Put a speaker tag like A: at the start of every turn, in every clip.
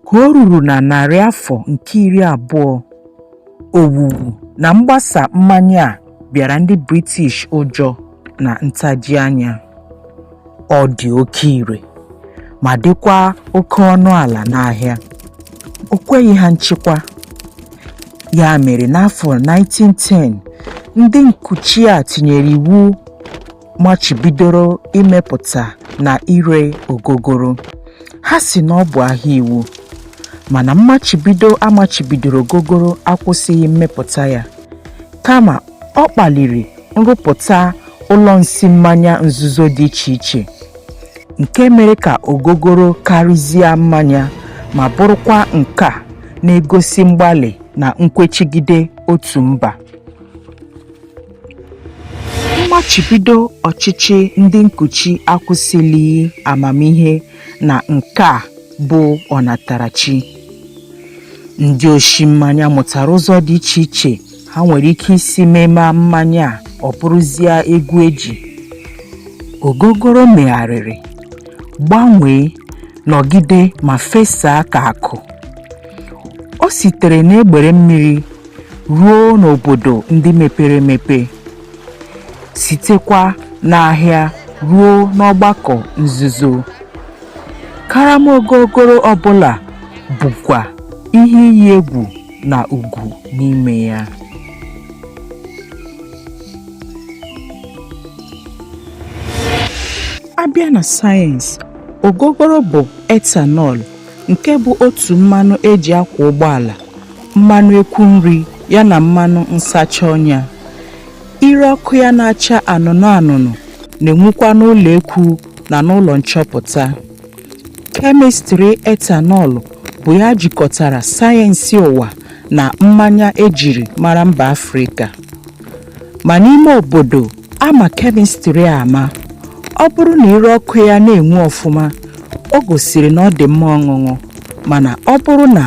A: ka o ruru na narị afọ nke iri abụọ owuwu na mgbasa mmanya a bịara ndị British ụjọ na ntaji anya ọ dị oke ire ma dịkwa oke ọnụ ala n'ahịa o kweghị ha nchịkwa ya mere n'afọ 1910 ndị nkuchi a tinyere iwu machibidoro imepụta na ire ogogoro ha sị na ọ bụ ahịa iwu mana mmachibido a machibidoro ogogoro akwụsịghị mmepụta ya kama ọ kpaliri nrụpụta ụlọ nsi mmanya nzuzo dị iche iche nke mere ka ogogoro karịzie mmanya ma bụrụkwa nke a na-egosi mgbalị na nkwechigide otu mba mmachibido ọchịchị ndị nkuchi akwụsịlighị amamihe na nka a bụ ọnatarachi ndị oshi mmanya mụtara ụzọ dị iche iche ha nwere ike isi mema mmanya a ọ bụrụzie egwu eji ogogoro megharịrị gbanwee nọgide ma fesaa ka akụ o sitere n'egbere mmiri ruo n'obodo ndị mepere emepe, sitekwa n'ahịa ruo n'ọgbakọ nzuzo. Karama ogogoro ọ bụla bukwa ihe iyi egwu na ugwu n'ime ya. A bịa na sayensị, ogogoro bụ ethanol, nke bụ otu mmanụ e ji akwa ụgbọala mmanụ ekwu nri ya na mmanụ nsacha ọnya ire ọkụ ya na-acha anụnụ anụnụ na-enwukwa n'ụlọ ekwu na n'ụlọ nchọpụta kemịstrị ethanol bụ ya jikọtara sayensị ụwa na mmanya e jiri mara mba afrịka ma n'ime obodo a ma kemịstrị ama ọ bụrụ na ire ọkụ ya na-enwu ọfụma o gosiri na ọ dị mma ọṅụṅụ mana ọ bụrụ na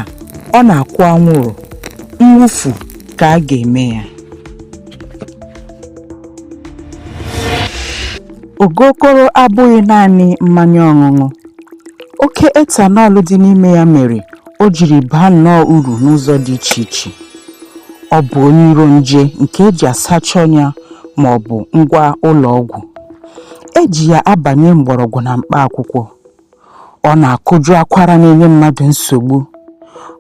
A: ọ na-akwụ anwụrụ mwụfu ka a ga-eme ya ogogoro abụghị naanị mmanya ọṅụṅụ oke ethanol dị n'ime ya mere o jiri baa nnọọ uru n'ụzọ dị iche iche ọ bụ onye iro nje nke e ji asacha ọnya ma ọ bụ ngwa ụlọ ọgwụ e ji ya abanye mgbọrọgwụ na mkpa akwụkwọ ọ na-akụjụ akwara na-enye mmadụ nsogbu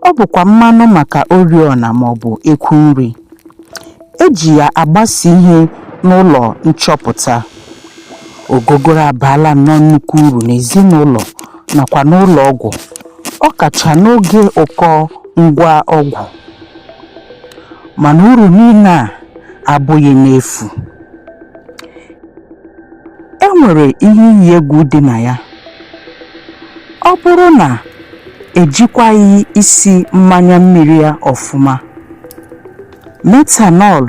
A: ọ bụkwa mmanụ maka oriọna ma ọ bụ ekwu nri eji ya agbasa ihe n'ụlọ nchọpụta ogogoro abaala nnọọ nnukwu uru n'ezinụlọ nakwa n'ụlọ ọgwụ ọ kacha n'oge ụkọ ngwa ọgwụ mana uru niile a abụghị n'efu e nwere ihe iyi egwu dị na ya ọ bụrụ na ejikwaghị isi mmanya mmiri ya ọfụma metanọl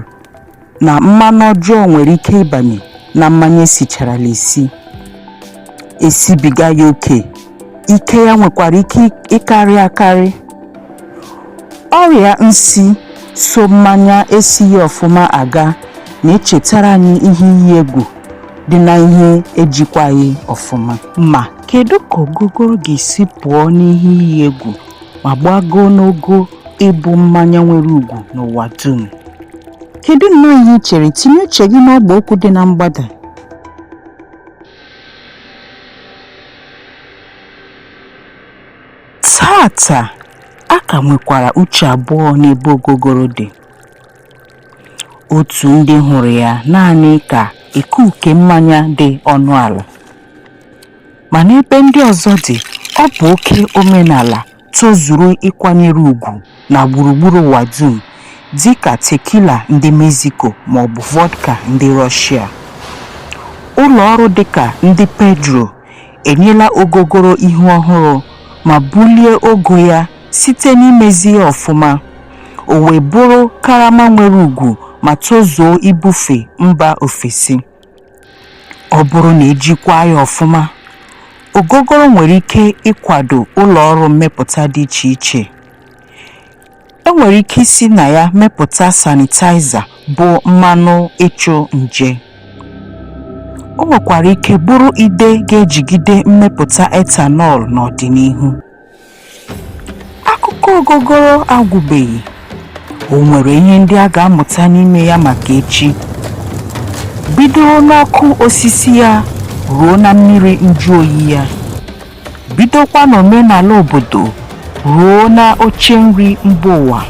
A: na mmanụ ọjọọ nwere ike ịbanye na mmanya esicharala esi esibiga ya oke ike ya nwekwara ike ịkarị akarị ọrịa nsi so mmanya esighị ọfụma aga na-echetara anyị ihe iyi egwu dị na ihe ejikwaghị ọfụma ma kedu ka ogogoro ga-esi pụọ n'ihe iyi egwu ma gbagoo n'ogo ịbụ mmanya nwere ugwu n'ụwa dum kedu nnọọ ihe i chere tinye uche gị n'ọgba okwu dị na mgbada Taata, a ka nwekwara uche abụọ n'ebe Ogogoro dị. Otu ndị hụrụ ya naanị ka ikuuke mmanya dị ọnụ ala, ma n'ebe ndị ọzọ dị, ọ bụ oke omenala tozuru ịkwanyere ugwu na gburugburu ụwa dum dị ka tequila ndị Mexico ma ọ bụ vodka ndị Russia. Ụlọ ọrụ dị ka ndị Pedro enyela ogogoro ihu ọhụrụ ma bulie ogo ya site n'imezi ya ọfụma, o wee bụrụ karama nwere ugwu ma tozuo ibufe mba ofesi. ọ bụrụ na ejikwaa ya ọfụma ogogoro nwere ike ịkwado ụlọ ọrụ mmepụta dị iche iche e nwere ike isi na ya mepụta sanitaiza bụ mmanụ ịchụ nje o nwekwara ike bụrụ ide ga-ejigide mmepụta ethanol n'ọdịnihu. akụkọ ogogoro agwụbeghị o nwere ihe ndị a ga-amụta n'ime ya maka echi bido n'ọkụ osisi ya ruo na mmiri njụ oyi ya bidokwa n'omenala obodo ruo na oche nri mba ụwa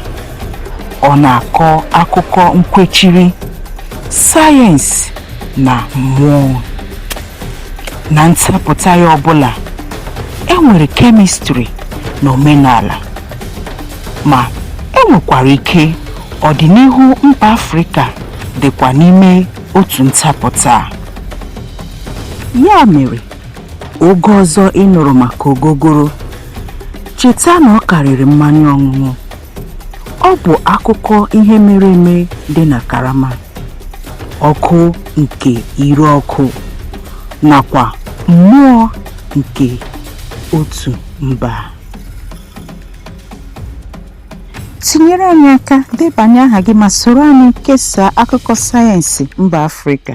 A: ọ na-akọ akụkọ nkwechiri sayensị na mmụọ na ntapụta ya ọbụla e nwere kemistri na omenala ma e nwekwara ike ọdịnihu mba afrịka dịkwa n'ime otu ntapụta a. ya mere oge ọzọ ị nụrụ maka ogogoro cheta na ọ karịrị mmanya ọṅụṅụ Ọ bụ akụkọ ihe mere eme dị na karama, ọkụ nke ire ọkụ, nakwa mmụọ nke otu mba. Tinyere anyị aka, debanye aha gị ma soro anyị kesaa akụkọ sayensị mba Afrịka.